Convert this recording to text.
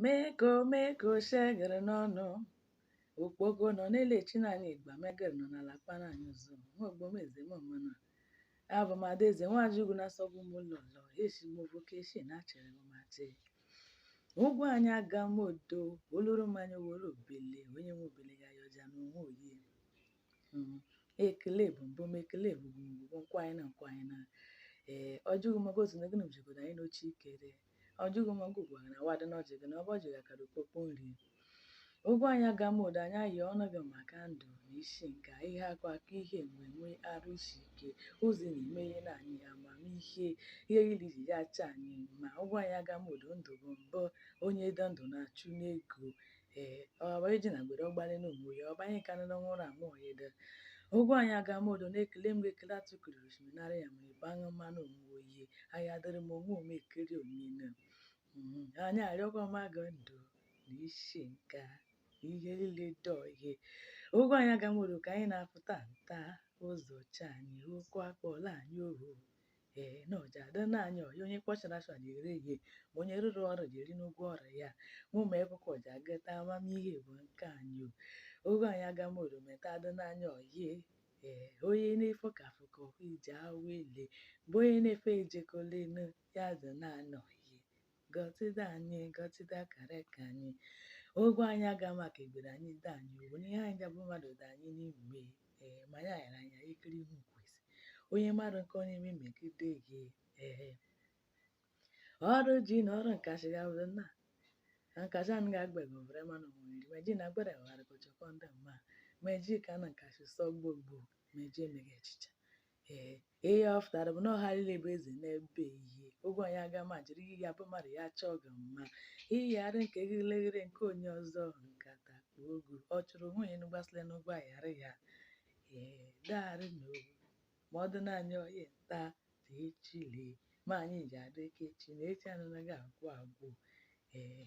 meko meko shegere n'ọnụ okpogo nọ na-elechi n'anya igba megere nọ n'ala kpara anyị ụzọ nwaogbomeze mmana abụ m adaeze Nwachukwu na-asọgbu m ụlọ ụlọ esi m ovoke esi na achere m mate ụgwọ anyị aga m odo oluru mmanya were obele onye nwe obele ya yọja na onwe oyi Mm, ekele bụ mbụ m ekele bụ mbụ nkwanyị na nkwanyị na ee ọjị gị maka otu na gịnị jikọta anyị n'oche ikere ọjị gị ma ọgwụ gwara na wadị n'ọjị gị na ọbụ ọjị ga kara okpokpo nri ụgwọ anyị aga m odo anyị ayọ ọnụ gị maka ndụ na isi nka ihe akụ akụ ihe enwe enwe arụ isi ike ụzọ na-eme ihe na anyị amamihe ihe yiri ji ya acha anyị ma ụgwọ anyị aga m odo ndụ bụ mbụ onye dị ndụ na-achụ n'ego ee ọba eji na gbere ọgbale na ụmụ ya ọba anyị karịrị ọnwa ụra anwụ ọya ede ụgwọ anyị aga m odo na-ekele m ekele atụkiri osimiri nara ya ma ebe aṅụ mmanụ ụmụ oyi anyị adịrị m onwe ome ekiri omine anyị arịọkwa m aga ndụ na isi nka ihe niile dị oyi ụgwọ anyị aga m odo ka anyị na-afụta nta ụzọ cha anyị okwu akpọla anyị ohu ee na ọ ja adị na anyị oyi onye kpọchara asọ ja eri ihe ma onye rụrụ ọrụ ja eri n'ụgwọ ọrụ ya mụ ma ekwụkwọ ọ ja agata amamihe bụ nke anyị o ụgwọ anyị aga m odo meta adị na anyị oyi ee onye na-efe ka afọ ka ọkụ ije awele bụ onye na-efe ejekọlenu ya dị na anyị oyi gọtịda anyị gọtịda kara ka anyị ụgwọ anyị aga maka egbere anyị da anyị owu n'ihe anyị gabụ mmadụ da anyị n'ime ee ma ya ghara anya ikiri ihu kwesị onye mmadụ nke onye ime megide gị ee ọrụ ji na ọrụ nkasị gabụrụ nna na nkasị anụ ga-agbego vere mmanụ nwere meji na agbere ghara kọchakọ ndị mma meji ka na nkasị sọ gbogbo meji emeghị echicha ee ihe ọ fụtara bụ na ọha niile bụ eze n'ebe ihe ụgwọ anyị aga ma jiri ihe ya bụ mmadụ ya chọọ gị mma ị yara nke gị leghere nke onye ọzọ nkata kpa ogu ọ chụrụ nwunye enu gbasịrị n'ụgwọ aghara ya ee daarị na owu ma ọ dị na anyị oyi nta dị echile ma anyị ja adị ka echi na echi anaghị agwụ agwụ ee